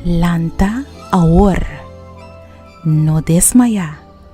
Lanta awor, no desmaya.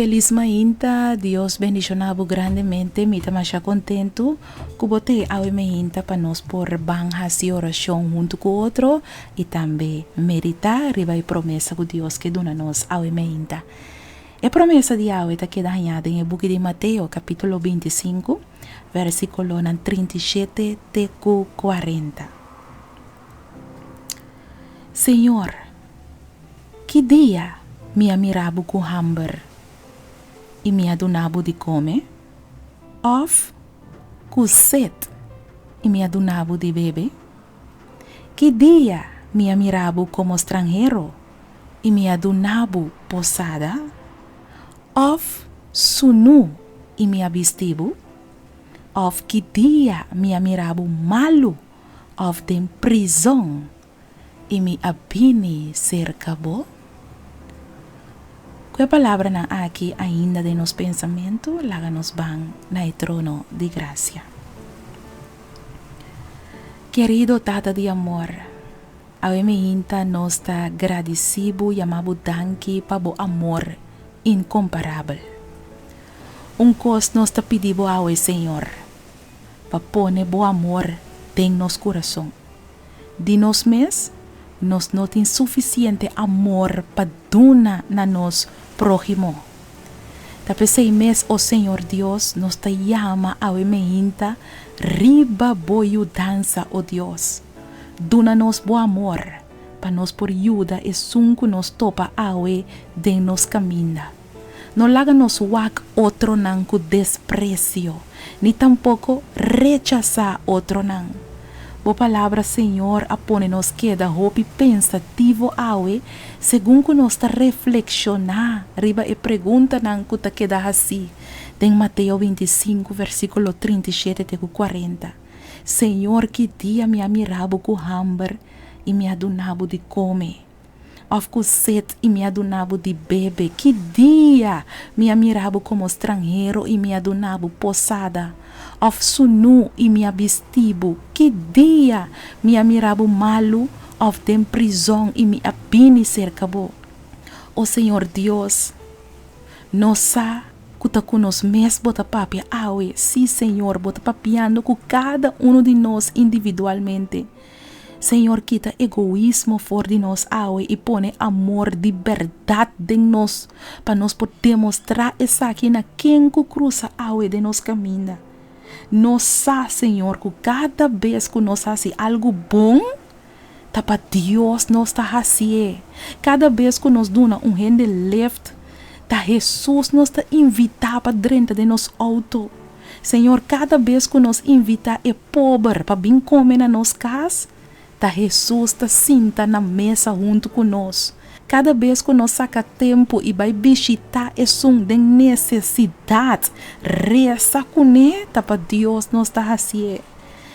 Felis mainta, Dios bendicionabu grandemente, mi ta masha contento cu bo ta e awe mainta pa nos por ban haci oracion hunto cu otro y tambe medita riba e promesa cu Dios ke duna nos awe mainta. E promesa di awe ta keda haña den e buki di Mateo capitulo binti i sinku, versiculonan trinta i shete te cu cuarenta. Señor, ki dia mi a mira bo cu hamber y mi a duna bo di come? Of cu set y mi a duna bo di bebe? Ki dia mi a mira bo como stranhero y mi a duna bo posada? Of sunu y mi a bisti bo? Of ki dia mi a mira bo malo òf den prizòn i mi a bini serka bo? Ku e palabranan aki ainda den nos pensamentu, laga nos ban na e trono di grasia. Kerido Tata di amor, awe mi hinta nos ta gradisí bo, yama bo danki pa bo amor inkomparabel. Un kos nos ta pidi bo awe, Señor. pa pone bo amor den nos kurason. Di nos mes, nos no tin sufisiente amor pa duna na nos próhimo. Ta p'esei mes, o Señor Dios, nos ta yama awe mehinta riba bo yudansa, o Dios. Duna nos bo amor pa nos por yuda esun ku nos topa awe den nos kaminda. No laga nos wak otronan ku despresio, ni tampoko rechasá otronan. Bo palabra, Señor, a pone nos keda hopi pensativo awe segun ku nos ta reflekshoná riba e preguntanan ku ta keda hasí den Mateo binti i sinku, versíkulo trinta i shete te ku kuarenta, Señor, ki dia mi a mira bo ku hamber i mi a duna bo di kome? Of ku set i mi a duna bo di bebe? Ki dia mi a mira bo komo stranhero i mi a duna bo posada? Of sunu i mi a bisti bo? Ki dia mi a mira bo malu of den prizon i mi a bini serka bo? O Señor Dios, no sa ku ta ku nos mes bo ta papia awe? Sí, Señor, bo ta papiando ku kada unu di nos individualmente. Señor kita egoismo for di nos awe i pone amor di berdad den nos pa nos por demostrá esaki na ken ku krusa awe den nos kaminda. No sa, Señor, ku kada bes ku nos hasi algu bon, ta pa Dios nos ta hasié. Kada bes ku nos duna un hende lift, ta Hesus nos ta invitá pa drenta den nos outo. Señor, cada bes cu nos invita e pober pa bin come na nos cas, ta Hesus ta sinta na mesa hunto cu nos. Cada bes cu nos saca tempo y bay bishita esun den necesidad, reza cune ta pa Dios nos ta hacié.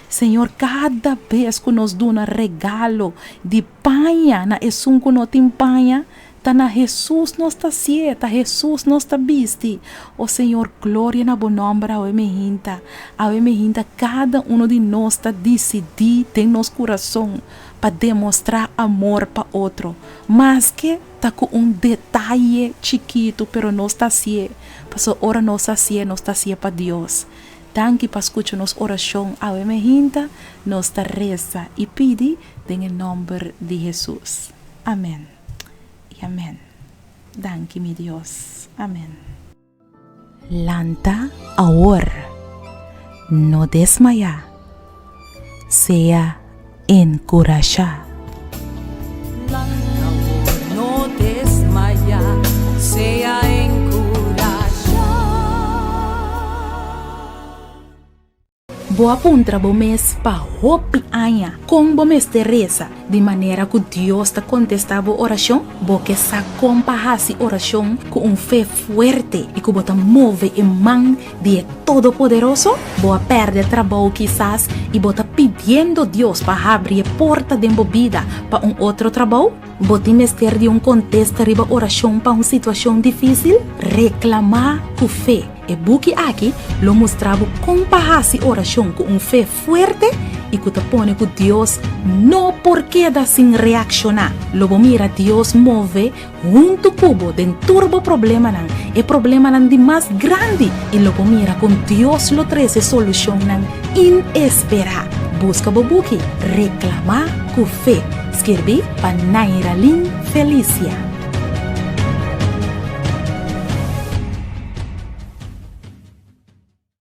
Señor, cada bes cu nos duna regalo di paña na esun cu no tin paña, Ta na Hesus nos ta sié, ta Hesus nos ta bisti. O Señor, gloria na bo nomber awe mehinta. Awe mehinta cada uno di nos ta dicidí den nos curazon pa demostrá amor pa otro, maske ta cu un detaye chikitu, pero nos ta sié, pasobra ora nos a sié, nos ta sié pa Dios. Danki pa scucha nos oracion awe mehinta, nos ta reza y pidi den e nomber di Hesus. Amen. i amen. Danki mi Dios. Amen. Lanta awor, no desmayá, sea enkurashá. Lanta awor, no desmayá, sea enkurashá. Bo a puntra bo mes pa hopi aña kon bo mester resa di manera ku Dios ta kontestá bo orashon? Bo ke sa kon pa hasi orashon ku un fe fuerte i ku bo ta move e man di e Todopoderoso? Bo a pèrdè trabou kisas i bo ta pidiendo Dios pa habri e porta den bo bida pa un otro trabou? Bo tin mester di un kontesta riba orashon pa un situashon difísil? Reklamá ku fe. E buki aki lo mustra bo kon pa hasi orashon ku un fe fuerte i ku ta pone ku Dios no por keda sin reakshoná. Lo bo mira Dios move huntu ku bo den tur bo problemanan, e problemanan di mas grandi, i lo bo mira kon Dios lo trese solushonnan inesperá. Buska bo buki Reklamá ku fe. Skirbi pa Nairalin Felicia.